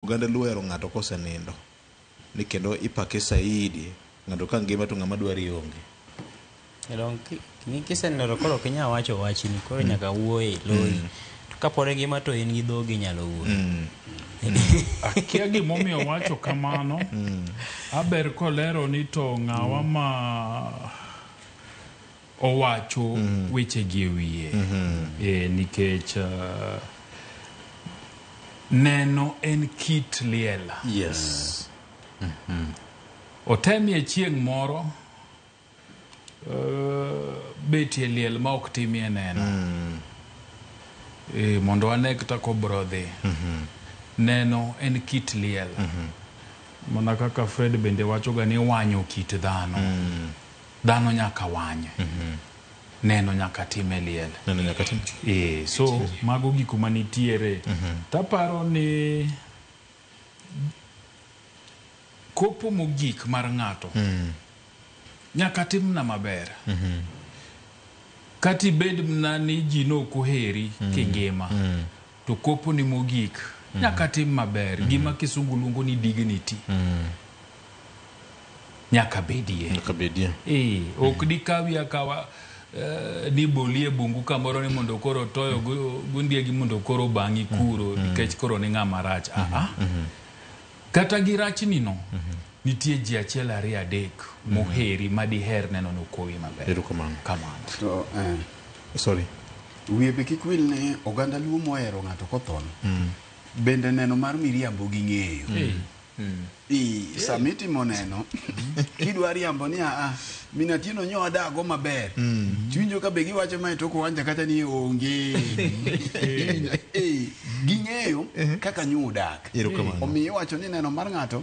Oganda luo ohero ng'ato kosenindo ni kendo ipake saidi ng'ato ka ngima to ng'ama dwari onge. Kisenindo to koro ok inyal wacho wachni koro nyaka wuo e loyi. To kapod ingima to in gi dhogi inyalo wuoyo. Akia gimomiyo owacho kamano. Aber kolero ni to ng'awa ma owacho wechegi e wiye Eh, nikech ah, neno en kit liel yes otemie chieng' moro eh, betie liel ma ok timie neno Eh, mondo ane kata kobro dhi neno en kit liel mana kaka fred bende wachoga ni wanyo kit dhano dhano nyaka wanye neno nyaka time liel Neno nyaka tim. e, so mago giko manitiere taparo ni kopo mogik mar ng'ato nyaka timna maber kata ibed mna ni ji ne ok oheri kingima to kopo ni mogik mm. nyaka tim maber mm. gima kisungu luongo ni dignity mm. nyaka bedie nyaka bedie eh ok mm. dikawi akawa Uh, ni bolie bungu kamoro ni mondo koro toyo mm. gundiegi mondo koro bangi kuro mm. nikech mm. koro ni ng'ama rach mm -hmm. aha mm -hmm. Kata gi rachnino, nitie ji achiel ariyo adek moheri ma diher neno ni okowi maber. Erokamano. Kamano. To eh, Sorry. wiye be kik wil ni oganda Luo mohero ng'ato kothon bende neno mar miriambo gi ng'eyo. Hey. I, sama itimo neno, kidwa riambo ni aa, Min Atieno nyo adago maber. Mm. Chwinjo ka be giwacho mae toko wanja kata ni onge. Eh, ging'eyo kaka nyo udak. Erokamano. Omiyo iwacho ni neno mar ng'ato